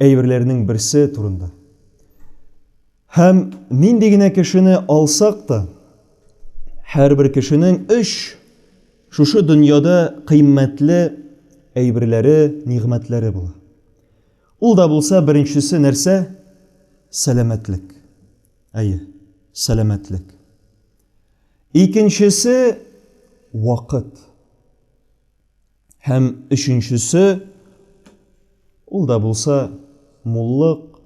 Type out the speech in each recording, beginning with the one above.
әйберләренең берсе турында. Һәм нинди генә кешене алсак та, һәрбер кешенең өч шушы дөньяда кыйммәтле әйберләре, нигъмәтләре була. Ул да булса беренчесе нәрсә? Сәламәтлек. Әйе, сәламәтлек. Икенчесе вакыт. Һәм өченчесе, ул да булса муллык,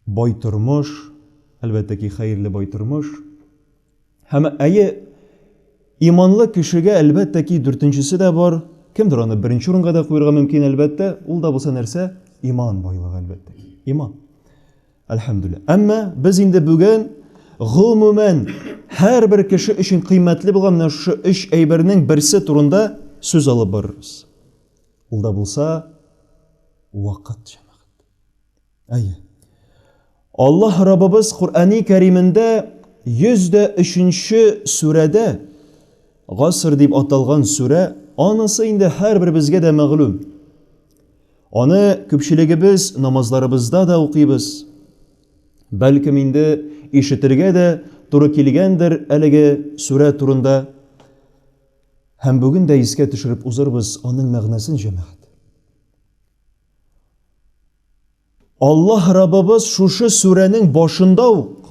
бай тормыш, әлбәттә ки, хәерле бай тормыш. Һәм әйе, иманлы кешегә, әлбәттә ки, дүртенчесе дә бар. Кемдер аны беренче урынга да куярга мөмкин, әлбәттә, ул да булса нәрсә? Иман байлыгы, әлбәттә ки. Иман. Әлхәмдүлилла. Әмма без инде бүген гомумән һәрбер кеше өчен кыйммәтле булган менә шушы өч әйбернең берсе турында сүз алып барырбыз. Ул да булса вакыт, җәмәгать. Әйе. Аллаһ Раббыбыз Куръани Кәримендә 103-нче сүрәдә Гаср дип аталган сүрә, анысы инде һәрберебезгә дә мәгълүм. Аны күпчелегебез намазларыбызда да укыйбыз. Бәлкем инде ишетергә дә туры килгәндер әлеге сүрә турында. Һәм бүген дә искә төшереп узырбыз аның мәгънәсен җәмәгать. Аллаһ Раббыбыз шушы сүрәнең башында ук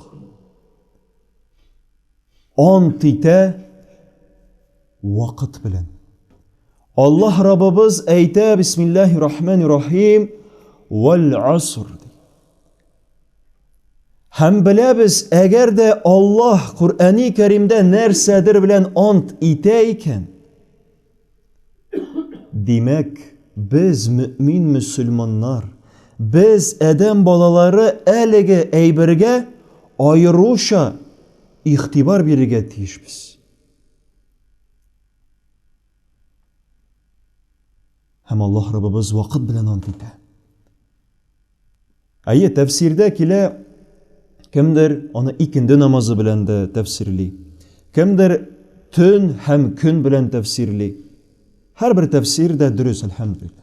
ант итә вакыт белән. Аллаһ Раббыбыз әйтә, бисмиллаһи рахмани рахим, вәл аср. Һәм беләбез, әгәр дә Аллаһ Коръәни Кәримдә нәрсәдер белән ант итә икән, Димәк, без, мөэмин-мөселманнар, без, адәм балалары, әлеге әйбергә аеруча игътибар бирергә тиешбез. Һәм Аллаһ Раббыбыз вакыт белән ант итә. Әйе, тәфсирдә килә, кемдер аны икенде намазы белән дә тәфсирли, кемдер төн һәм көн белән тәфсирли. Һәрбер тәфсир дә дөрес, әлхәмдулиллаһ.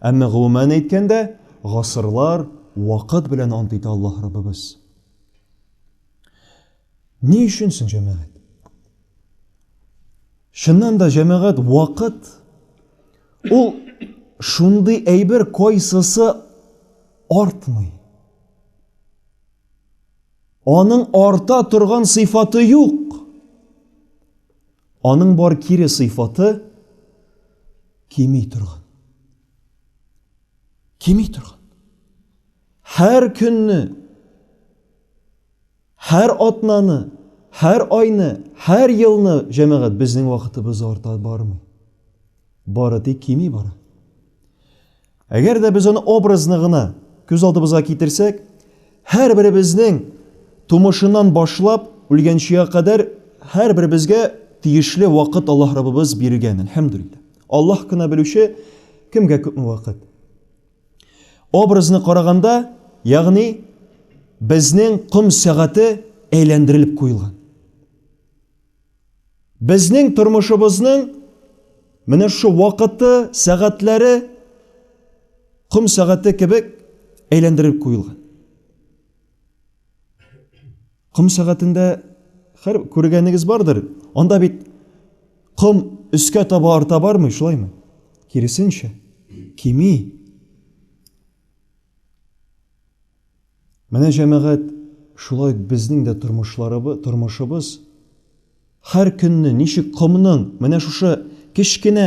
Әмма гомумән әйткәндә, гасырлар, вакыт белән ант итә Аллаһ Раббыбыз. Ни өчен соң җәмәгать? Чыннан да җәмәгать вакыт Ул шундый әйбер кайсысы артмый. Аның арта торган сыйфаты юк. Аның бар кире сыйфаты кими торган. Кими торган. Һәр көнне Һәр атнаны, һәр айны, һәр елны, җәмәгать, безнең вакытыбыз арта бармый. Бары тик кими бара. Әгәр дә без аны образны гына күз алдыбызга китерсәк, һәрберебезнең тумышыннан башлап үлгәнчегә кадәр һәрберебезгә тиешле вакыт Аллаһ Раббыбыз биргән, әлхәмдүлилләһ. Аллаһ кына белүче, кемгә күпме вакыт. Образны караганда, ягъни безнең ком сәгате әйләндерелеп куелган. Безнең тормышыбызның менә шу вакыты, сәгатьләре ком сәгате кебек әйләндерелеп куелган. Ком сәгатендә хәр күргәнегез бардыр. Анда бит ком өскә таба арта бармый, шулаймы? Киресенчә, кими. Менә җәмәгать шулай безнең дә тормышларыбыз, тормышыбыз һәр көнне ничек комның менә шушы кечкенә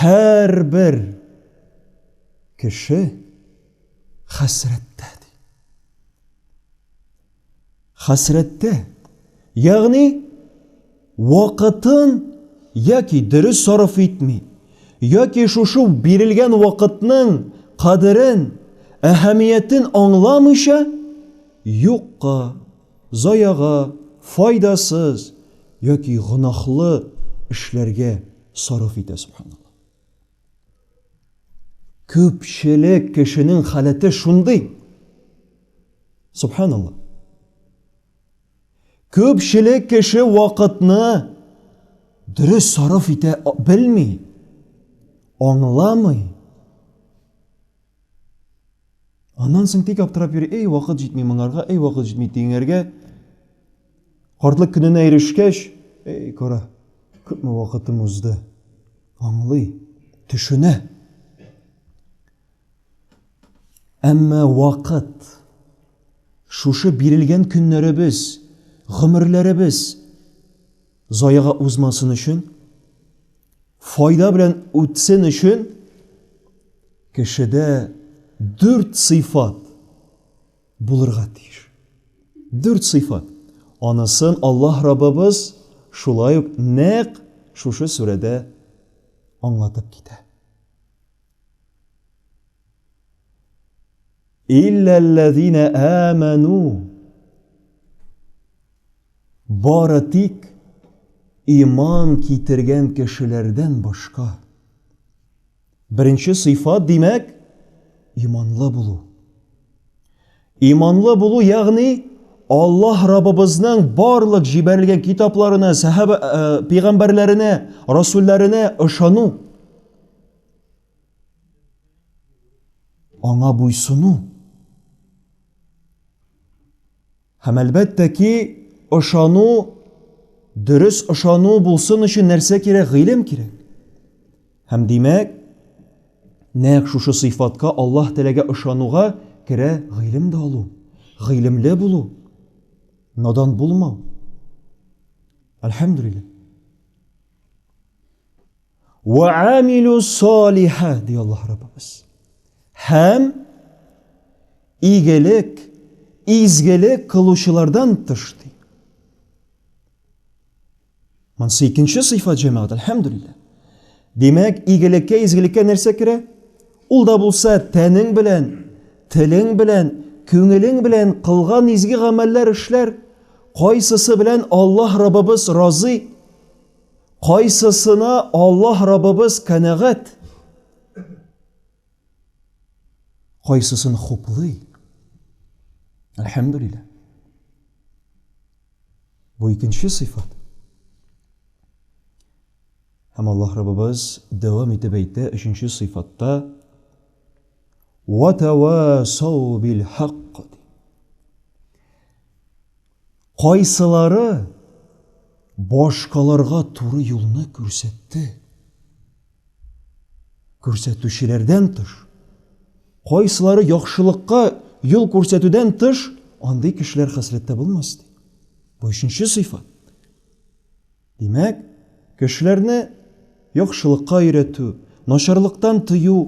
Һәрбер кеше хәсрәттә ди. Хәсрәттә, ягъни вакытын яки дөрес сарыф итми, яки шушы бирелгән вакытның кадерен, әһәмиятен аңламыйча, юкка Заяга, файдасыз яки гөнаһлы эшләргә сарыф итә, субханалла. Күпчелек кешенең халәте шундый. Субханалла. Күпчелек кеше вакытны дөрес сарыф итә белми, аңламый. Аннан соң тик аптырап йөри, эй, вакыт җитми моңарга, эй, вакыт җитми тиңәргә. Картлык көненә ирешкәч, эй, кара, күпме вакытым узды. Аңлый, төшенә. Әмма вакыт, шушы бирелгән көннәребез, гомерләребез заяга узмасын өчен, Файда белән үтсен өчен кешедә дүрт сыйфат булырга тиеш. Дүрт сыйфат. Анысын Аллаһ Раббыбыз шулай ук нәкъ шушы сүрәдә аңлатып китә. Илләлләзина аману бары тик иман китергән кешеләрдән башка. Беренче сыйфат, димәк, иманлы булу. Иманлы булу, ягъни Аллаһ Раббыбызның барлык җибәрелгән китапларына, сәхәбә э, пәйгамбәрләренә, расулларына ышану. Аңа буйсыну. Һәм әлбәттә ки, ышану, дөрес ышану булсын өчен нәрсә кирәк? Гыйлем кирәк. Һәм димәк, нәкъ шушы сыйфатка Аллаһ теләгә ышануга керә гыйлем дә алу, гыйлемле булу, надан булмау. Әлхәмдүлилләһ. Вә амилу салиха, ди Аллаһ Раббыбыз. Һәм игелек, изгелек кылучылардан тыш, ди. Монсы икенче сыйфат җәмәгать, әлхәмдүлилләһ. Димәк, игелеккә, изгелеккә нәрсә керә? Ул да булса тәнең белән, телең белән, күңелең белән кылган изге гамәлләр, эшләр, кайсысы белән Аллаһ Раббыбыз разый? Кайсысына Аллаһ Раббыбыз канәгать, кайсысын хуплый? Әлхәмдүлилләһ. Бу икенче сыйфат. Һәм Аллаһ Раббыбыз дәвам итеп әйтә, өченче сыйфатта «Ватавасау бил хакк» Кайсылары башкаларга туры юлны күрсәтте? Күрсәтүчеләрдән тыш, кайсылары яхшылыкка юл күрсәтүдән тыш, андый кешеләр хәсрәттә булмас ди. Бу өченче сыйфат. Димәк, кешеләрне яхшылыкка өйрәтү, начарлыктан тыю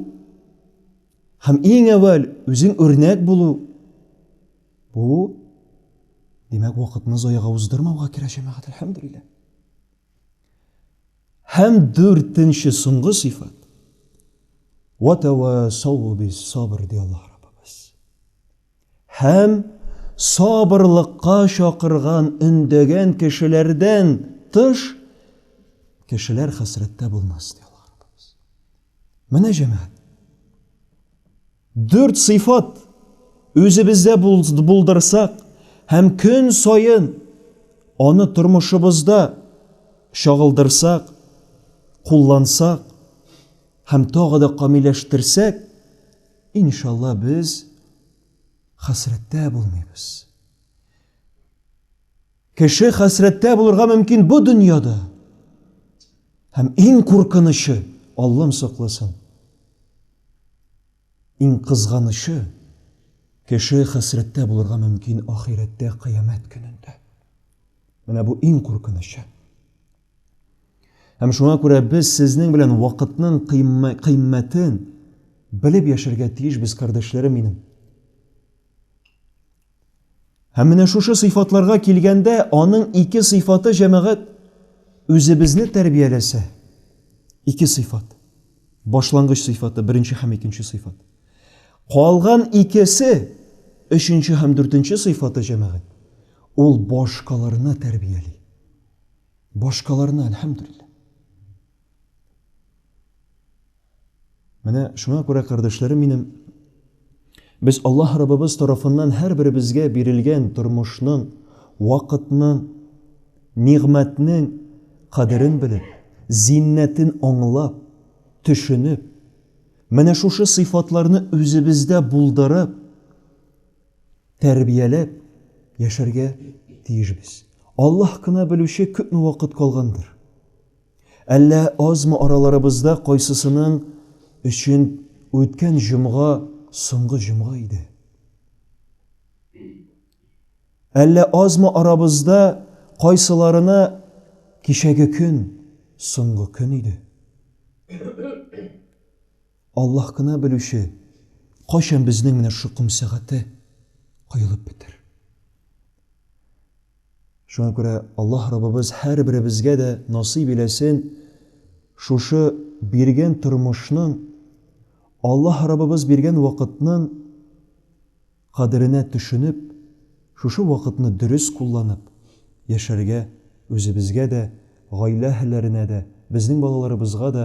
һәм иң әүвәл үзең үрнәк булу Бу, димәк, вакытны заяга уздырмауга керә, җәмәгать, әлхәмдүлилләһ. Һәм дүртенче соңгы сыйфат. Ва тавасау бис сабр ди Аллаһ Раббыбыз. Һәм сабырлыкка чакырган, өндәгән кешеләрдән тыш кешеләр хәсрәттә булмас ди Аллаһ Раббыбыз. Менә җәмәгать. Дүрт сыйфат үзебездә булдырсак һәм көн саен аны тормышыбызда чагылдырсак, куллансак һәм тагы да камилләштерсәк, иншалла, без хәсрәттә булмыйбыз. Кеше хәсрәттә булырга мөмкин бу дөньяда. Һәм иң куркынычы, Аллам сакласын, иң кызганычы, кеше хәсрәттә булырга мөмкин ахирәттә, кыямәт көнендә. Менә бу иң куркынычы. Һәм шуңа күрә без сезнең белән вакытның кыйммәтен белеп яшәргә тиешбез, кардәшләрем минем. Һәм менә шушы сыйфатларга килгәндә, аның ике сыйфаты җәмәгать үзебезне тәрбияләсә. Ике сыйфат. Башлангыч сыйфаты, беренче һәм икенче сыйфат. Калган икесе, өченче һәм дүртенче сыйфаты җәмәгать, ул башкаларны тәрбияли. Башкаларны, әлхәмдүлилләһ. Менә шуңа күрә, кардәшләрем минем, без Аллаһ Раббыбыз тарафыннан һәрберебезгә бирелгән тормышның, вакытның, нигъмәтнең кадерен белеп, зиннәтен аңлап, төшенеп, менә шушы сыйфатларны үзебездә булдырып, тәрбияләп яшәргә тиешбез. Аллаһ кына белүче күпме вакыт калгандыр. Әллә азмы араларыбызда кайсысының өчен үткән җомга соңгы җомга иде? Әллә азмы арабызда кайсыларына кичәге көн соңгы көн иде? Аллаһ кына белүче, кайчан безнең менә шу ком сәгате коелып бетер. Шуңа күрә Аллаһ Раббыбыз һәрберебезгә дә насыйп иләсен шушы биргән тормышның, Аллаһ Раббыбыз биргән вакытның кадеренә төшенеп, шушы вакытны дөрес кулланып яшәргә, үзебезгә дә, гаилә әһелләренә дә, безнең балаларыбызга да